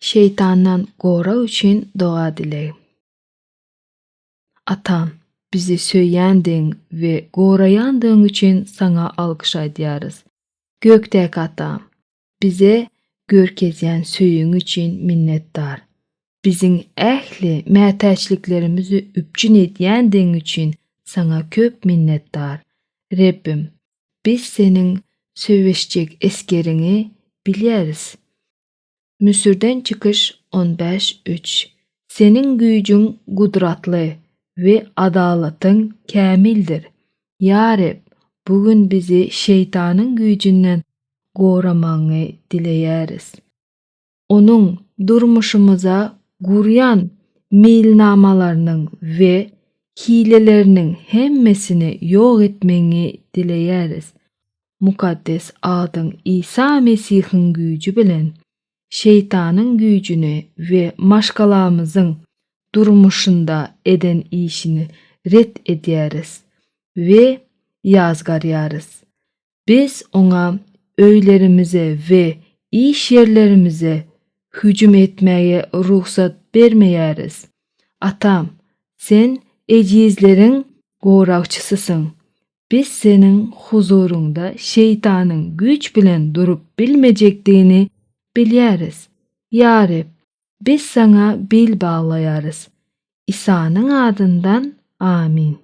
Şeýtandan gorag üçin doga dileg. Atam, bizi söýýändigiň we goraýandygyň üçin Saňa alkyş aýdýarys. Gökdäki Atam, bize görkezýän söýgiň üçin minnetdar. Biziň ähli mätäçliklerimizi üpjün edýändigiň üçin Saňa köp minnetdar. Rebbim, biz Seniň söweşjek esgeriňi bilýäris. Müsürden çykyş on bäş üç Seniň güýjüň gudratly we adalatyň kämildir. Ýa Reb, bu gün bizi şeýtanyň güýjünden goramagyňy dileýäris. Onuň durmuşymyza gurýan meýilnamalarynyň we hileleriniň hemmesini ýok etmegiňi dileýäris. mukaddes adyň Isa Mesihiň güýji bilen şeýtanyň güýjüni we maşgalamyzyň durmuşynda eden işini ret edýäris we ýazgarýarys. Biz oňa öýlerimize we iş ýerlerimize hüjüm etmäge rugsat bermeýäris. Atam, sen ejizleriň goragçysysyň Biz Seniň huzuryňda şeýtanyň güýç bilen durup bilmejekdigini bilýäris. Ýa Reb, biz Saňa bil baglaýarys. Isanyň adyndan, amin.